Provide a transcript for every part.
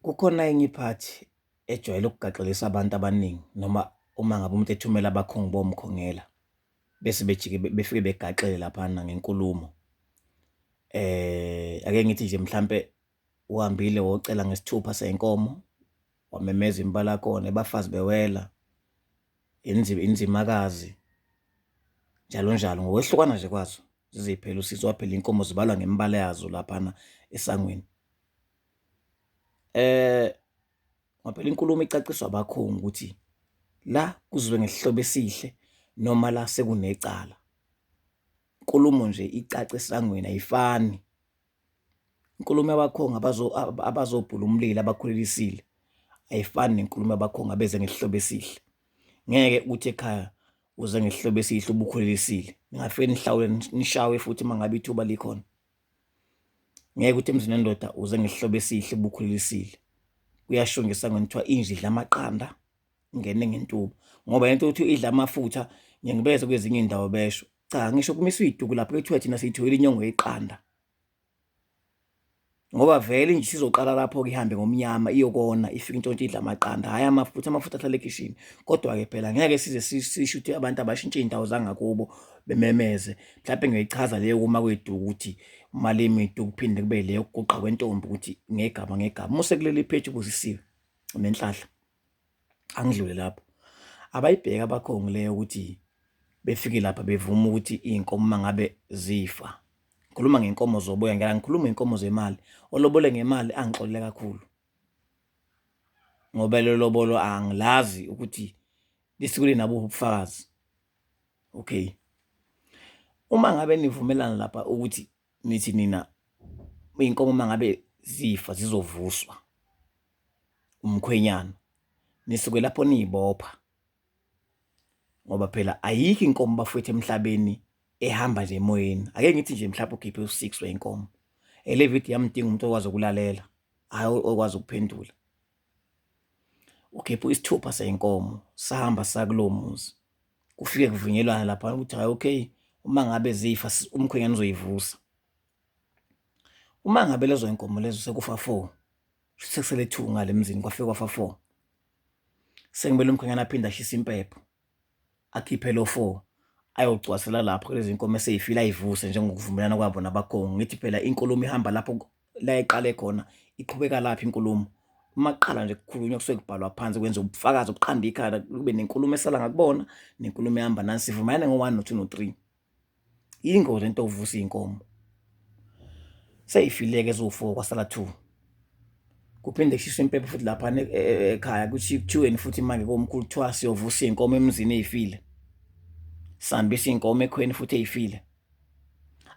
Kukhona enye iphathi ejwayele ukugaxelisa abantu abaningi noma uma ngabe umuntu ethumela abakhongi bomkhongela bese bejike befike begaxele laphana ngenkulumo eh ake ngithi nje mhlambe uhambile wocela ngesithupha senkomo wamemeza impala kona ebafazi bewela inzima inzimakazi njalo njalo ngokwehlukana nje kwazo ziziphela usizo waphela inkomo zibalwa ngembala yazo laphana esangweni Eh ngoba phela inkulumo icaciswa abakhongi ukuthi la kuzobe ngesihlobo esihle noma la sekunecala. Inkulumo nje icaca esangweni ayifani, inkulumo yabakhongi abazobhula umlilo abakhulelisile ayifani nenkulumo yabakhongi abeze ngesihlobo esihle, ngeke uthi ekhaya uze ngesihlobo esihle ubukhulelwe isile, ningafike nihlawule nishawe futhi uma ngabe ithuba likhona. Ngeke uthi emzini wendoda uze ngesihloko esihle ubukhulelisile. Kuyashongisa ngani kuthiwa inja idla amaqanda ingene ngentuba ngoba lento yokuthi idla amafutha ngeke ngibeze kwezinye iy'ndawo besho. Cha ngisho kumiswa iy'tuku lapho kuthiwa thina siyitholile inyongo yeqanda ngoba vele nje sizoqala lapho-ke ihambe ngomnyama iyokona ifike intshontshe idla amaqanda hhayi amafutha amafutha ahlale ekhishini kodwa-ke phela ngeke size sisho ukuthi abantu abashintshe iy'ndawo zangakubo bememeze mhlawumbe ngiyoyichaza leyo kuma kweduku ukuthi uma lemidu kuphinde kube leyo kuguqa kwentombi ukuthi ngegama ngegama uma usekuleli pheji ubusisiwe nenhlahla angidlule lapho abayibheka abakhongi leyo ukuthi befike lapha bevuma ukuthi iy'nkomo uma ngabe zifa ngikhuluma ngenkomo zoboya ngeke ngikhuluma ngenkomo zemali olobole ngemali angixolele kakhulu ngoba lelobolo angilazi ukuthi lisikule nabo ubufakazi okay uma ngabe nivumelana lapha ukuthi nithi nina iy'nkomo uma ngabe zifa zizovuswa umkhwenyana nisuke lapho niyibopha ngoba phela ayikho inkomo bafwethu emhlabeni ehamba nje emoyeni ake ngithi nje mhlawumbe ukhiphe u-six wey'nkomo ele video yamdinga umuntu okwazi ukulalela hhayi okwazi ukuphendula ukhipha isithupha seyinkomo sahamba sakulowo muzi kufike kuvunyelwana lapha ukuthi hayi okay uma ngabe zifa umkhwenyana uzoyivusa uma ngabe lezo inkomo lezo sekufa four sekusele two ngale mzini kwafika kwafa four sekumele umkhwenyana aphinde ashise impepho akhiphe lo four ayocwasela lapho kulezi nkomo eseyifile ayivuse njengokuvumelana kwabo nabakhongi ngithi phela inkulumo ihamba lapho la iqale khona iqhubeka lapho inkulumo uma kuqala nje kukhulunywa kusuke kubhalwa phansi kwenza ubufakazi ukuqanda ikhanda kube nenkulumo esala ngakubona nenkulumo ehamba nani sivumelane ngo-one no-two no-three. Yingozi into yokuvusa iy'nkomo. Sey'file-ke eziwu-four kwasala two. Kuphinde kushiswe impepho futhi laphana e, e, e, ekhaya kuthi kuthiweni futhi manje komkhulu kuthiwa siyovusa iy'nkomo emzini ey'file. Sihambisa iy'nkomo ekhweni futhi ey'file.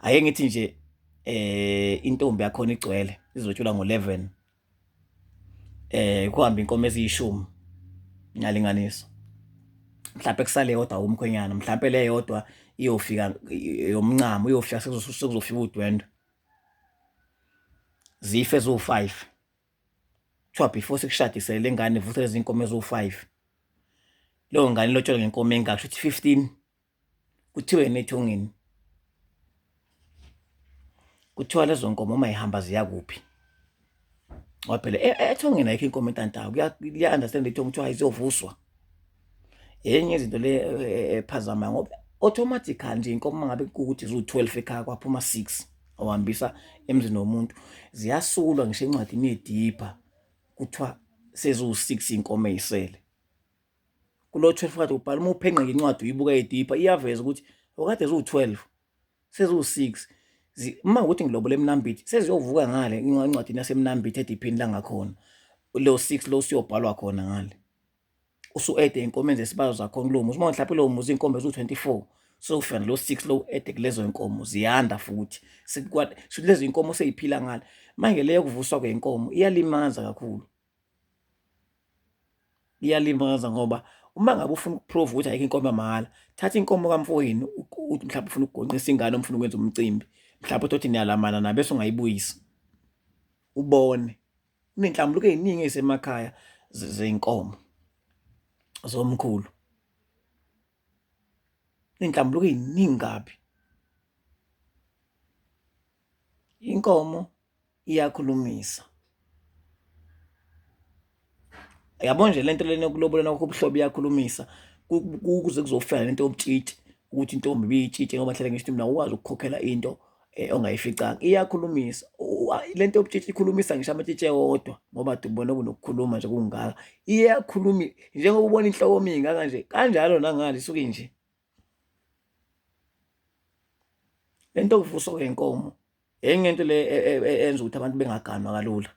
Ake ngithi nje eh intombi yakhona igcwele izotshula ngo-11 eh kuhamba inkomo eziyishumi ngiyalinganisa mhlawumbe kusale yodwa umkhwenyana mhlawumbe le yodwa iyofika yomncamo iyofika sekuzofika udwendwe zife zo5 kuthiwa before sikushadise le ngane vuthe lezi nkomo ezo5 leyo ngane lotshelwe ngenkomo engaka shuthi 15 kuthiwe emithongeni kuthiwa lezo nkomo uma ihamba ziya kuphi ngoba phela e, e, ethongeni ayikho inkomo entantayo kuya-understand ithongo kuthiwa izovuswa enye izinto le e, ephazama ngoba automatically nje inkomo uma ngabe kukuthi ziwu-twelve ekhaya kwaphuma six awuhambisa emzini womuntu ziyasulwa ngisho encwadini yedipha kuthiwa seziwu-six iy'nkomo ey'sele kulo 12 kade ubhala uma uphenqa ngencwadi uyibuka edipha iyaveza ukuthi okade ziwu-12 seziwu-6 uma ukuthi ngilobole emnambithi seziyovuka ngale incwadini yasemnambithi ediphini langakhona lo 6 lo siyobhalwa khona ngale usu-ede inkomo enze isibazo zakhona kulowo muzi uma mhlawumpe lowo muzi iy'nkomo eziwu-24 sokufana lo 6 lo ede kulezo y'nkomo ziyanda futhi lezi y'nkomo seyiphila ngale manje leyo kuvuswa kwey'nkomo iyalimaza kakhulu Iyalimaza ngoba uma ngabe ufuna ukuphruva ukuthi ayikho inkomo yamahhala, thatha inkomo kamfowenu uthi mhlawumbe ufuna ukugonqisa ingane noma ufuna ukwenza umcimbi, mhlawumbe uthole ukuthi niyalamana naye bese ungayibuyisi, ubone. Kunenhlambuluko ey'ningi ey'semakhaya zey'nkomo zomkhulu. Kuney'nhlambuluko ey'ningi kabi. Inkomo. iyakhulumisa yabo nje lento lena yokulobola nakho ubuhlobo iyakhulumisa kuze kuzofana lento yobutshitshi ukuthi intombi biyitshitshe ngoba hlala ngisho mina ukwazi ukukhokhela into eh, ongayificanga iyakhulumisa lento yobutshitshi ikhulumisa ngisho amatshitshe wodwa ngoba dubona kunokukhuluma nje kungaka iyakhuluma njengoba ubona inhloko mingi kanje kanjalo nangale isuke nje lento kuvuswa kwenkomo enye into le e, e, e, enza ukuthi abantu bengaganwa kalula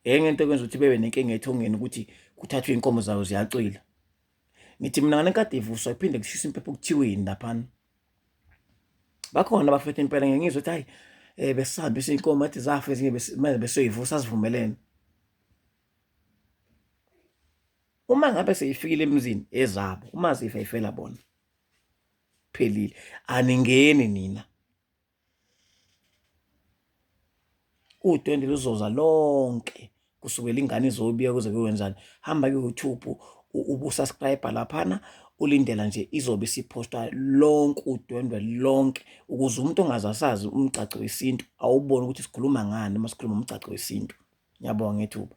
enye into ekwenza ukuthi bebe nenkinga ethongeni ukuthi kuthathwe inkomo zayo ziyacwila ngithi mina ngane kade ivuswa iphinde kushisa impepho kuthiweni laphana bakhona bafethu impela ngeke ngizwe ukuthi hayi eh besahambe isinkomo athi zafa ezinye manje besoyivusa sivumelene uma ngabe seyifikile emzini ezabo uma zifa ifela bona phelile aningeni nina u20 luzoza lonke kusukela ingane izobiya kuze kuyenzani hamba ke YouTube ubusubscribe laphana ulindela nje izobe isiphostwa lonke udwendwe lonke ukuze umuntu ongazasazi umgcagco wesintu awubone ukuthi sikhuluma ngani uma sikhuluma umgcagco wesintu ngiyabonga ngethuba